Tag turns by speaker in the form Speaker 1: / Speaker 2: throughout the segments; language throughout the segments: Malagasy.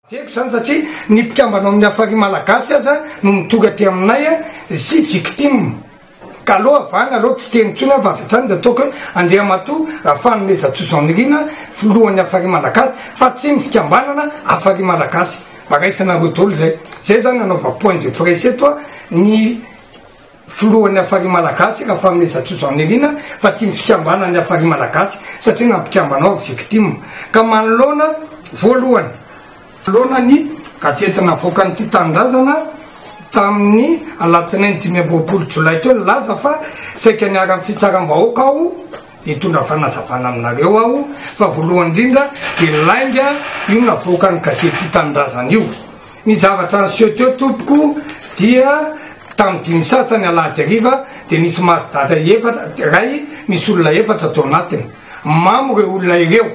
Speaker 1: Tiako izany satria ny mpikambana ao amin'ny Afari Malagasy aza no midoka aty aminay sy victime. Ka aleo avahana aleo tsy teny intsony aho fa avy hatrany dia ataoko hoe Andriamatoa Rafanomezantsoa Jean Nirina filohan'ny Afari Malagasy fa tsy ny fikambanana Afari Malagasy. Mba raisanareo daholo izay. Izay izany nanaovako point de presse eto ny Filohan'ny Hafari Malagasy, Rafaminezatsoa Jean Nirina, fa tsy ny fikambanan'ny Hafari Malagasy satria na ny mpikambana ao ary victime. Ka manoloana, voalohany, manoloana ny gazety navoakan'ity Tanindrazana tamin'ny alatsinainy dimy amby roapolo jolay teo nilaza fa saika niharan'ny fitsaram-bahoaka aho dia hitondra fanazavana aminareo aho fa voalohany indrindra dia lainga io navoakan'ny gazety Tanindrazana io. Ny zavatra niseho teo tompoko dia tamin'ny dimy sasany alahady hariva dia nisy maty dada efatra iray misy olona efatra tao anatiny. Mamo ireo olona ireo.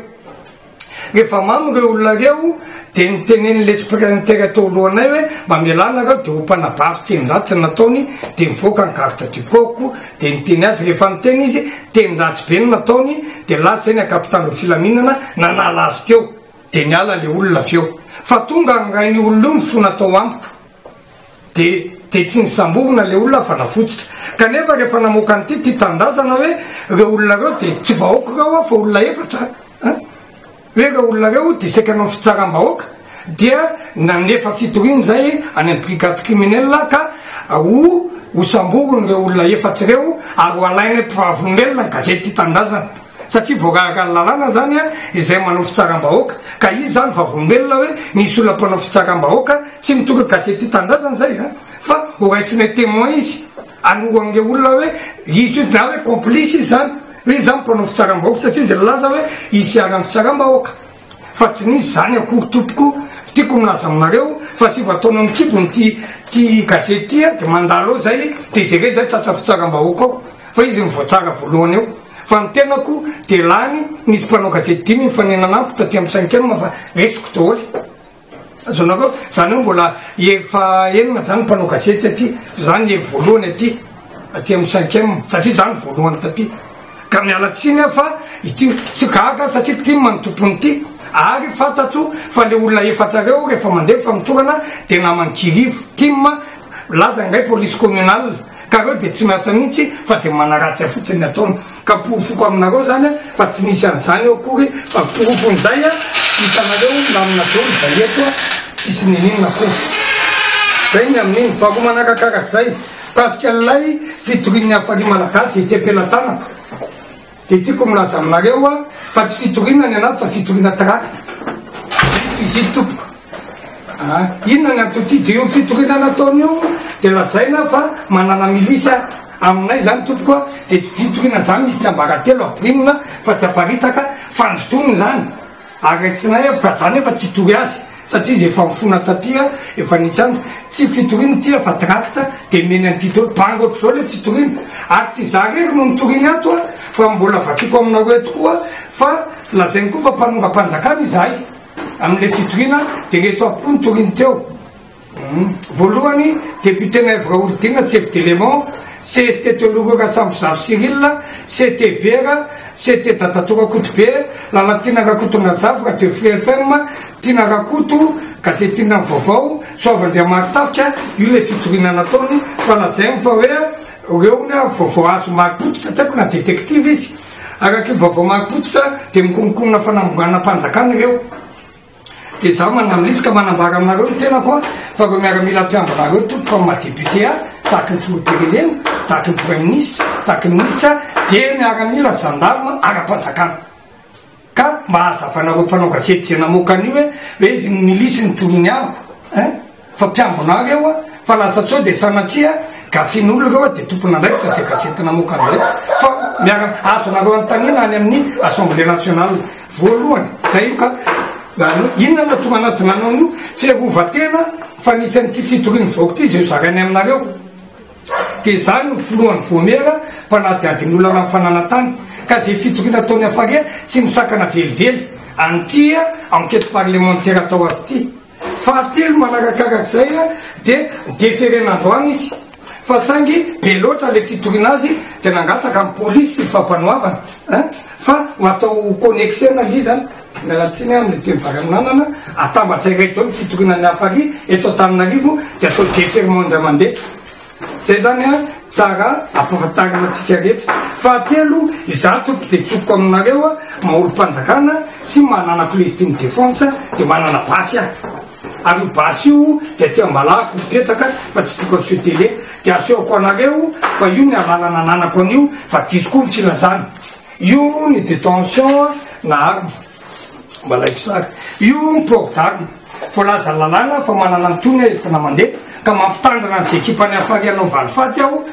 Speaker 1: Rehefa mamo ireo olona ireo dia nitenen'ny letsipirenitera teo alohanay hoe mba mialà nareo dia ho mpanabavy teny ratsy ny nataony dia mivoaka ny garde du corps-ko dia niteny azy rehefa niteny izy teny ratsy be ny nataony dia lasa iny an-kapitan'ireo filaminana nanala azy teo. Dia niala le olona avy eo. Fa tonga angain'io olona io ny fo natao amiko. Dia dia tsy nisamborina le olona fa nafototra. Kanefa rehefa namoaka an'ity ity tanindrazana hoe reo olona reo dia tsy vahoaka reo an fa olona efatra an. Hoe reo olona reo dia saika nanao fitsaram-bahoaka dia nanefa fitoriana zay any amin'ny brigade criminelle ka ho ho samboriny reo olona efatra reo ary ho alainay mpivarombelona ny gazety tia tanindrazana. satria voararaka ny lalàna izany izay manao fitsaram-bahoaka ka izy izany vavolombelona hoe nisy olona mpanao fitsaram-bahoaka tsy mitondra gazety tanindrazana izay izany fa horaisinay témoin izy anoroan'ireo olona hoe izy io na hoe complice izy izany hoe izy izany mpanao fitsaram-bahoaka satria izy nilaza hoe izy hiharan'ny fitsaram-bahoaka fa tsy nisy zany akory tompoko tiako milaza aminareo fa sivy taona ny kibony ty ty gazety ty a de mandalo ao zay de jereo zay tratra fitsaram-bahoaka ao fa izy ny voatsara voalohany eo fa ny tenako de lany nisy mpanao gazety dimy nifanena anamiko taty amin'ny cinquième fa resiko daholo Azonareo? Zany hoe mbola efa enina zany mpanao gazety aty, zany le voalohany aty, aty am cinquième, satria za no voalohany taty, ka miala tsiny aho fa ity tsy gaga aho satria tim no tompony ty, ary fantatro fa le olona efatra reo refa mandeha famotorana de naman kirivo, tim milaza indray police communale, ka reo de tsy miasa mihitsy fa de manaratsy fotsiny ny ataony. Ka porofoko aminareo izany fa tsy nisy an'izany eo akory fa porofon'izay hitanareo namana dolo izay eto tsisy n'inon'inona akory. Izay ny amin'iny. Faharoa manaraka arak'izay, mikasika an'ilay fitorian'ny Hafari Malagasy ety am-pelatanako dia tiako milaza aminareo fa tsy fitoriana ny anaty fa fitoriana trakta. Ito izy ito tompoko. Aa inona ny anton'ity dia io fitoriana nataony io dia lazaina fa manana milisy a! aminay izany tompoko a! dia tsy fitoriana izany misy tsiambaratelo ampirimina fa tsy aparitaka fandrotoana izany ary raisina evo ka izany efa tsy hitory azy satria izy efa mifona taty a! efa nisy any tsy fitoriana ity a! fa tract dia omeny an'ity daholo banga ohatr'izao ilay fitoriana ary tsy izaho irery no nitoriany ato a! fa mbola vakiko aminareo eto koa fa lazainy koa fa mpanongam-panjakana izahay Amin'ilay fitoriana dia ireto avy koa ny toriny teo. Voalohany, Député-na Ève Raholdina, Chef d'élément, CST Teologo Ratsambozazo Cyrille, CT Bera, CT Dadatoa Rakoto Be, Lalatiana Rakoto Nanjavy, Radio Free FM, Tiana Rakoto, Gazety Inona ny Vaovao, Soavandriamaritafika, io ilay fitoriana nataony fa lazainy fa hoe ireo hono vaovao azo marim-pototra, tsy haiko na détective izy. Araka io vaovao marim-pototra dia mikononkonona fanambonganam-panjakana ireo. Dia izaho manamlisy ka manambara aminareo ny tenako an, fa ireo miaramila mpiambina ireo tompoko amin'ny maha député ahy, tahaky ny filoham-pirenena, tahaky ny praiminisitra, tahaky ny minisitra dia miaramila, gendarme, ara-panjakana. Ka mba hazavanareo mpanao gazety izay namoaka an'io hoe hoe izy no milisy ny toloniago eh! fa mpiambina reo a ah. fa lasa tso dia sanatria gafin'olo reo a ah, dia tompon'andraikitra izay gazety namoaka an'izay fa miara azonareo anotaniana any amin'ny assemblée nationale voalohany zay io ka inona na tonga anazy nanao an'io fiarovatena fa nisy an'ity fitorian'ny vaoka ity izay zarainy aminareo Dia izany no filohan'ny Voamiera mpanadihady ny olana ny fananan-tany. Ka izay fitoriana ataon'i Hafaria tsy misakana velively an'ity enquête parlementaire atao azy ity. Fahatelo manarakarak'izay dia deferena androany izy fa saingy be loatra ilay fitoriana azy dia nangataka ny polisy sy ny fampanoavana fa ho atao connexer-na ilay izy. Miala tsiny amin'ny dimy varaninanana, atambatra iray daholo ny fitoriana ny hafa ary eto Antananarivo dia atao déferrement indray mandeha. Izay izany ary tsara ampahafantarina antsika rehetra. Fahatelo, izaho tompoko dia tsokoko aminareo maha olom-panjakana sy maha nanako legitime défense dia manana basy aho. Ary io basy io dia aty Ambalahako mipetraka fa tsy tokony aseho télé. Dia asehoko anareo fa io ny alalana ananako an'io fa diso koa ny filazana. Io ny detention na arme, mba laivo sary. Io ny port d'arme. Voalaza lalàna fa manana ny tohiny hoe entina mandeha, ka mampitandrina an'izay ekipan'i Hafari hanao valifaty aho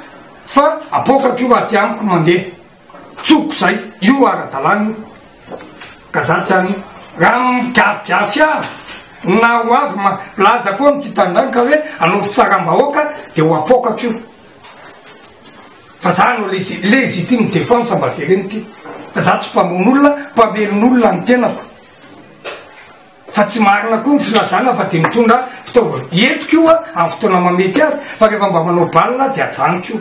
Speaker 1: fa apoakako io aty amiko mandeha. Tsoko izay. Io ara-dalàna io. Ka za tsy any. Raha migafigafy aho, na ho avy ma, milaza koa ny tia tanindrazana ka hoe hanao fitsaram-bahoaka dia ho apoakako io. fa za no legitime defense mba avereno ty fa za tsy mpamono olona mpamelona olona ny tenako fa tsy marina koa ny filazana fa de mitondra fitaovana entiko io a amin'ny fotoana mamety azy fa rehefa mba manao balina de ajanoko io